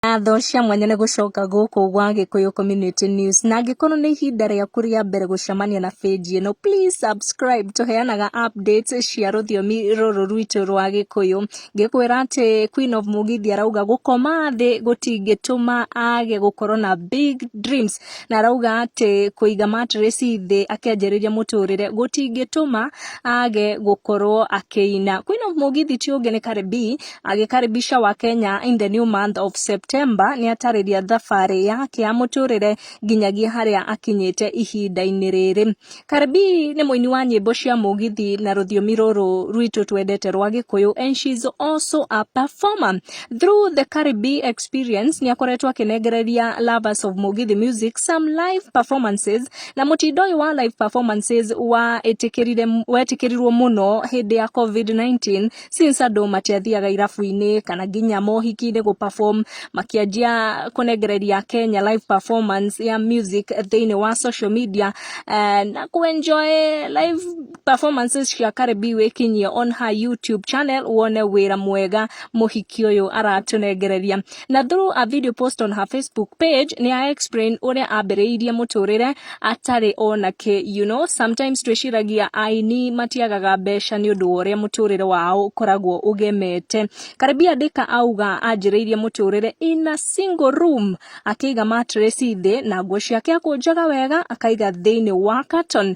Ngatho cia mwanya nĩ gũcoka gũkũ gwa Gĩkũyũ Community News. Na angĩkorwo nĩ ihinda rĩaku rĩa mbere gũcemania na page ĩno, please subscribe. Tũheanaga updates cia rũthiomi rũrũ rwitũ rwa Gĩkũyũ. Ngĩkwĩra atĩ Queen of Mugithi arauga gũkoma thĩ gũtingĩtũma age gũkorwo na big dreams. Na arauga atĩ kũiga mattress thĩ akĩanjĩrĩria mũtũrĩre gũtingĩtũma age gũkorwo akĩina. Queen of Mugithi ti ũngĩ nĩ Cardi B agĩkaribisha wa Kenya in the new month of September nĩ atarĩria thabarĩ yake ya mũtũrĩre nginyagia harĩa akinyĩte ihinda-inĩ rĩrĩ. Karibi nĩ mũini wa nyĩmbo cia mũgithi na rũthiomi rũrũ rwitũ twendete rwa Gĩkũyũ and she is also a performer. Through the Karibi experience nĩ akoretwo akĩnengereria lovers of mũgithi music some live performances na mũtindo ũyũ wa live performances wa wetĩkĩrirwo mũno hĩndĩ ya COVID-19 since andå matiathiaga irabu-inä kana nginya mohiki-inä gå perform makianjia kũnengereria Kenya live performance ya music thĩinĩ wa social media eh, na kũ enjoy live performances cia Karebi wĩkinyie on her YouTube channel wone wĩra mwega mũhiki ũyũ aratũnengereria Na through a video post on her Facebook page, ni a explain uria ambĩrĩirie mũtũrĩre atarĩ ona kĩ. You know, sometimes twĩciragia aini matiagaga mbeca nĩ ũndũ wa ũrĩa mũtũrĩre wao ũkoragwo ũgemete. Karibia Ndĩka auga anjĩrĩirie mũtũrĩre in a single room, akĩiga mattress thĩ na nguo ciake akũnjaga wega akaiga thĩinĩ wa carton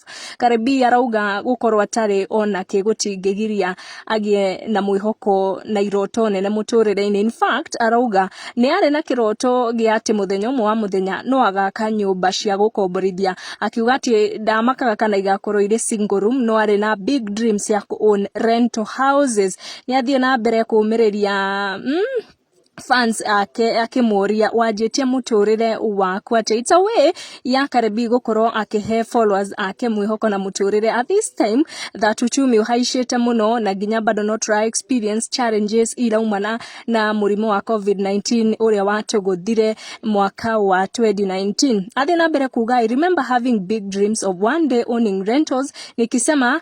Karĩmbii arauga gũkorwo atarĩ ona kĩ gũtingĩgiria agĩe na mwĩhoko na iroto nene mũtũrĩre-inĩ. In fact, arauga nĩ arĩ na kĩroto gĩa atĩ mũthenya ũmwe wa mũthenya no agaka nyũmba cia gũkomborithia. Akiuga atĩ ndamakaga kana igakorwo irĩ single room no arĩ na big dreams ya kũ own rental houses. Nĩ athiĩ na mbere kũmĩrĩria mm, fans ake akĩmũria wanjĩtie mũtũrĩre waku atĩ it's a way ya Karebi gũkorwo akĩhe followers ake mwĩhoko na mũtũrĩre at this time that uchumi ũhaicĩte mũno na nginya bado no try experience challenges iraumana na mũrimũ wa covid-19 ũrĩa watũgũthire mwaka wa 2019 athiĩ na mbere kuga I remember having big dreams of one day owning rentals nikisema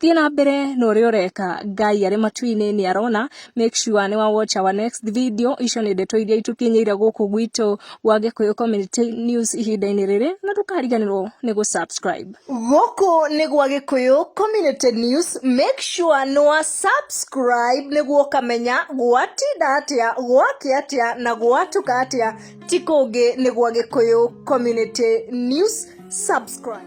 thiĩ na mbere na ũrĩa ũreka ngai arĩ matu-inĩ nĩ arona make sure nĩ wa watch our next video icio nĩ ndeto iria itũkinyĩire gũkũ gwitũ wa gĩkũyũ community news ihinda-inĩ rĩrĩ na ndũkariganĩrwo nĩ gũ subscribe gũkũ nĩ gwa gĩkũyũ community news make sure nĩ wa subscribe nĩguo ũkamenya gwatinda atĩa gwake atĩa na gwatuka atĩa ti kũngĩ nĩ gwa gĩkũyũ community news subscribe